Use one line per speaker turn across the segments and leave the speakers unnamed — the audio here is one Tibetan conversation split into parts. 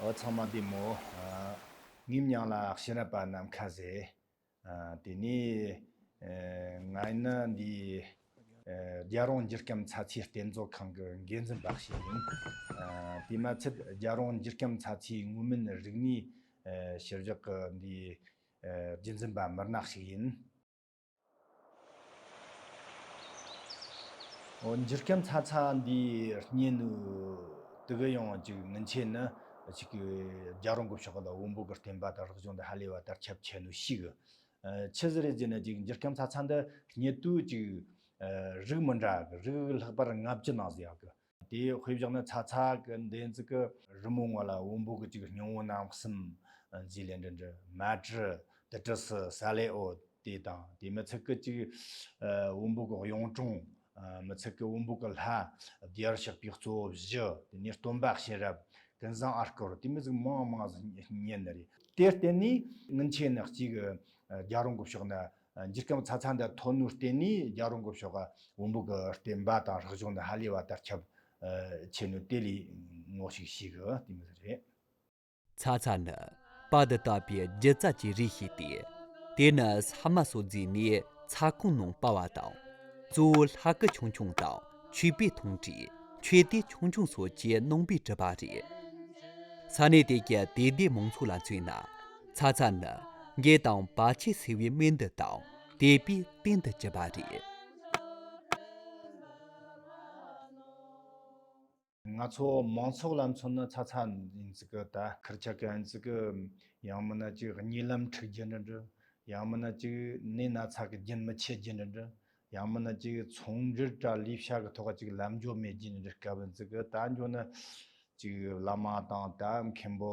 འོ་ཚང་མ་བདེ་མོ། ངེམ་ཉང་ལ་ཤེས་རབ་པ་རྣམས་ཁ་ཟས། དེ་ནས་ང་ནི་འདི་རྒྱལ་རོང་སྒྱུར་སྐྱོམ་ཚྭ་ཚའི་རྟེན་གཙོ་ཁང་གི་འགན་འཛིན་འབའ་ཞིག་ཡིན། དེ་མ་ཚད་རྒྱལ་རོང་སྒྱུར་སྐྱོམ་ཚྭ་ཚའི་དངོས་མིན་རིག་གནས་ཞིབ་འཇུག་གི་འདི་རྒྱུན་འཛིན་པ་མུར་ནག་ཞིག་ཡིན། འཇིག་རྟེན་ཚ་ཚང་འདིའི་གཉེན་ནུས་དེ་ག་ཡང་གཅིག་མིན་ཆད་ནི་གཅིག་གི་རྒྱ་རོང་གི་ཕྱོགས་ལ་དབོན་པོ་གི་བསྟན་པ་དང་རིག་གཞུང་འདི་ཧ་ལས་པ་ལྟར་ཁྱབ་ཆེ་ནུས་ཤིག། ཆི་ཟི་རེད་ཅེ་ནི་གཅིག་འཇིག་རྟེན་ཚ་ཚང་འདི་གཉེན་དུས་གཅིག་རིགས་མི་འདྲ་གི་རིགས་ལྷག་པར་ལྔ་བཅུ་ནང་ཟེར་ཡག་གི། དེ་ཡི་དཔེ་བཞག་ན་ཚ་ཚ་གི་འདེན་ཙི་ཀི། རི་མོའི་ངོ་ལ་བོང་བུ་གི་ཅིག་སྙིང་བོ་ནང་གསུམ། རྫིས་ལས་འབྲི་འབྲི་མ་བྲི་དི་དྲི་སི་ས་ལེ་ཨོ། དེ་དང་དེ་མི་ཚིག་གི་ཅིག། བོང་བུ་གི་གཡུང་དྲུང། མི་ཚིག་གི་བོང་བུ་གི་ལྷ། བརྒྱར་བཤགས་པའི་གཙོ་བོ་བཞི། དེ་ནས་སྟོན་པ་ཤེས་རབ། ཀུན་བཟང་ཨར་ཀོར་དེ་མི་ཚིག་མང་མང་གཉིས་ནི་རེད། དེར་བརྟེན་ནས། དངུལ་ཆས་ནི་གཅིག། རྒྱ་རོང་གི་ཕྱོགས་ནི། འགྱུར་སྐམ་ཚ་ཚ་འདི་ཐོག་ནུས་བསྟེན་ནས་རྒྱག་རུང་གོ་ཤོག་བོང་བུ་གི་བསྟེན་པ་དང་རག་བྱུང་ནི་ཧ་ལས་བ་དར་ཁྱབ་ཆེ་ནུས་དེ་ལས་ངོ་ཞིག་ཤིག་གི་དེ་མི་རེད། ཚ་ཚ་
ནི་པ་འདི་ལྟ་བུའི་རྒྱུ་རྩ་གྱི་རིགས་ཤིག་སྟེ། དེ་ནི་ས་དམའ་སོགས་རྫས་ནས་ཚ་གོང་ནང་པ་བ་དང། གཙོ་བོ་ལྷ་སྐུ་ཆུང་ཆུང་དང་ཆོས་པའི་ཐུང་གྲས་ཆོས་སྡེ་ཆུང་ཆུང་སོགས་ཀྱི་ནང་པའི་གྲུབ་པ་རེད། ས་གནས་དེ་གའི་དད་ལྡན་མང་ཚོགས་ལ་མཚོན་ན་ཚ་ཚ་ནི་རྒྱས་དང་བར་ཆད་སེལ་བའི་སྨན་འདི་དང་དེས་པས་བསྟེན་དུ་བཅུག་པ་རེད།
ང་ཚོ་མང་ཚོགས་ལ་མཚོན་ན་ཚ་ཚ་ཡིན་ཚུལ་གྱི་ལྟ་ཁུལ་ཆགས་ཀྱི་ཡིན་ཚུལ་གྱི། ཡང་མིན་ན་ཅིག་རྙིང་ལམ་འཁྲུག་རྒྱུ་འདྲི་འདྲི། ཡང་མིན་ན་ཅིག་ནད་སྣ་ཚགས་ཀྱི་རྒྱུན་མི་ཆད་རྒྱུ་འདྲི་འདྲི། ཡང་མིན་ན་ཅིག་ཚོང་འབྲེལ་དྲ་ལུས་བྱ་གི་ཐོག་ཅིག་ལམ་འཇོག་མེད་རྒྱུ་འདྲི་དཀའ་བོ་ཡིན་ཚུལ་གྱི་ལྟ་འཇོག་ནི། ཅིག་བླ་མ་དང་དད་མཁན་པོ།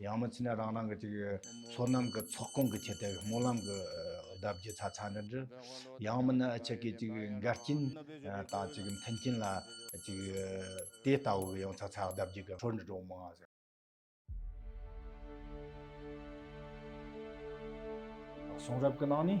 ཡང་མི་ཚེ་ནི་རང་རང་གི་ཅིག། ཚོགས་རྣམས་ཀྱི་ཚོགས་གང་གི་ཆེད་དེ། སྨོན་ལམ་གྱི་བརྡ་བརྒྱུད་ཚ་ཚ་འདྲི་འདྲི། ཡང་མི་ནི་ཆེ་གེ་ཅིག། འགལ་རྐྱེན་དང་ཅིག་མཐུན་རྐྱེན་ལ་ཅིག། དེ་ལྟ་བུ་ཡང་ཚ་ཚ་བརྡ་བརྒྱུད་ཀྱི་འཕྲོ་འདྲི་འགྲོ་མང། གསུང་རབ་ཀྱི་ནང་ནས།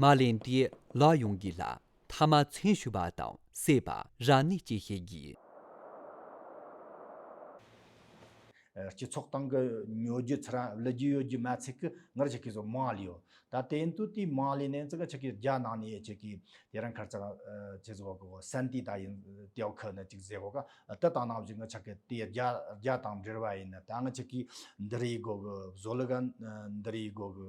མ་ལན་ཏེ་ལག་ཡོང་གི་ལ་ཐ་མ་མཚན་ཞུ་བ་དང་བསད་པ་རང་ནས་བྱེད་ཤེས་གི། སྤྱི་
ཚོགས་སྟེང་གི་ཉོ་རྒྱུ་ཚུར་རང་བླུ་རྒྱུ་ཡོད་རྒྱུ་མ་ཚིག་གི་ངར་ཆེ་གི་བཟོ་མང་ལེའོ། ད་དེ་འདུག་དུས་མང་ལེ་ནན་ཙི་གི་ཆེ་གི་རྒྱ་ནང་ནས་ཡེ་ཆེ་གི་དེ་རང་ཁར་ཚང་ཆེ་བཟོ་བ་གོ་སན་ཏི་ད་ཡིན་ཏེའོ་ཁི་ནི་ཅིག་ཟེ་གོ་ག་ཏི་དང་ནང་བཞིན་ངར་ཆེ་གི་དེ་རྒྱ་རྒྱ་དང་འབྲེལ་བ་ཡིན་ནི་ད་ངར་ཆེ་གི་འདི་རིའི་སྒོ་གི་བཟོ་ལུ་ག་འདི་རིའི་སྒོ་གི་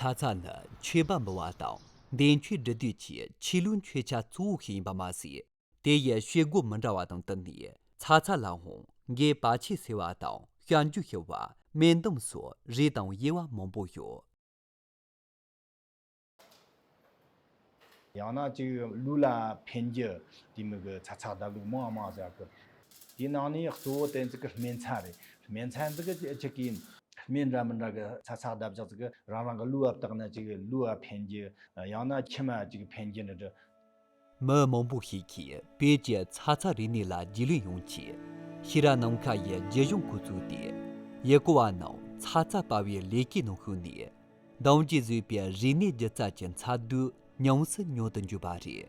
ཚ་
ཚ་ནི་ཆོས་པ་འབུལ་བ་དང་འདས་མཆོད་སྒྲུབ་དུས་ཀྱི་ཆོས་ལུགས་མཆོད་ཆ་གཙོ་བོ་ཞིག་ཡིན་པ་མ་ཟད། དེ་ཡི་ཆོས་སྒོ་མི་འདྲ་བ་དང་བསྟུན་ནས་ཚ་ཚ་ལའང་རྒྱའི་བ་ཕྱེ་ཟེར་བ་དང་གཤམ་རྒྱུད་ཤི་བ་སྨན་དུམ་སོགས་རིགས་དང་དབྱེ་བ་མང་པོ་ཡོད། ཡང་ན་གཅིག་ལུས་ལ་ཕན་རྒྱུ་
དེ་མི་དགོས་ཚ་ཚགས་དག་ལུགས་མང་མང་བྱ་དགོས། དེའི་ནང་ནས་གཙོ་བོ་དེ་ཚོ་གི་སྨན་ཚ་རེད། སྨན་ཚ་འདི་གི་གཅིག་གི་སྨན་འདྲ་མི་འདྲ་གི་ཚ་ཚགས་བརྡབ་བཞག་ཚིག་གི་རང་རང་གི་ལུས་བབ་དག་ན་གཅིག་ལུས་བ་ཕན་རྒྱུ། ཡང་ན་མཆི་མ་གཅིག་ཕན་རྒྱུ་འདྲ་འདྲ། མི་
མང་པོ་ཞིག་གིས་བོད་ཀྱི་ཚ་ཚ་རིག་གནས་ལ་རྒྱུས་ལོན་ཡོང་ཆེད་ཤེས་རབ་ནམ་མཁའ་ཡི་རྗེས་གཞུང་ཁུལ་བཙུགས་ཏེ་ཡུལ་སྐོར་བ་རྣམས་ཚ་ཚ་དཔའ་བའི་ལས་ཀའི་ནང་ཞུགས་ནས་གདངས་ཀྱིས་བཟོས་པའི་རིག་གནས་སྒྱུ་རྩལ་གྱི་མཚར་སྡུག་ཉམས་སུ་མྱོང་དུ་འཇུག་པ་རེད།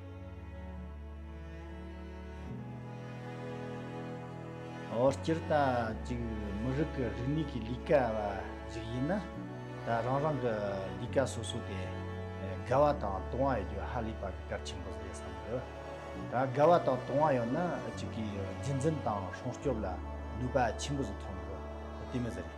འོ་སྤྱིར་བཏང་གཅིག་མི་རིགས་ཀྱི་རིག་གནས་ཀྱི་ལས་ཀ་བ་ཞིག་ཡིན་ན་ད་རང་རང་གི་ལས་ཀ་སོ་སོ་དེ་དགའ་བ་དང་དུང་བ་ཡོད་རྒྱུ་ཧ་ལས་པ་གི་སྐར་ཆེན་པོ་རེད་བསམ་གི། ད་དགའ་བ་དང་དུང་བ་ཡོད་ན་གཅིག་གིས་རྒྱུན་འཛིན་དང་སྲུང་སྐྱོབ་ལ་ནུས་པ་ཆེན་པོ་ཟིག་ཐོན་གི་དེ་མི་ཟེར་རེད།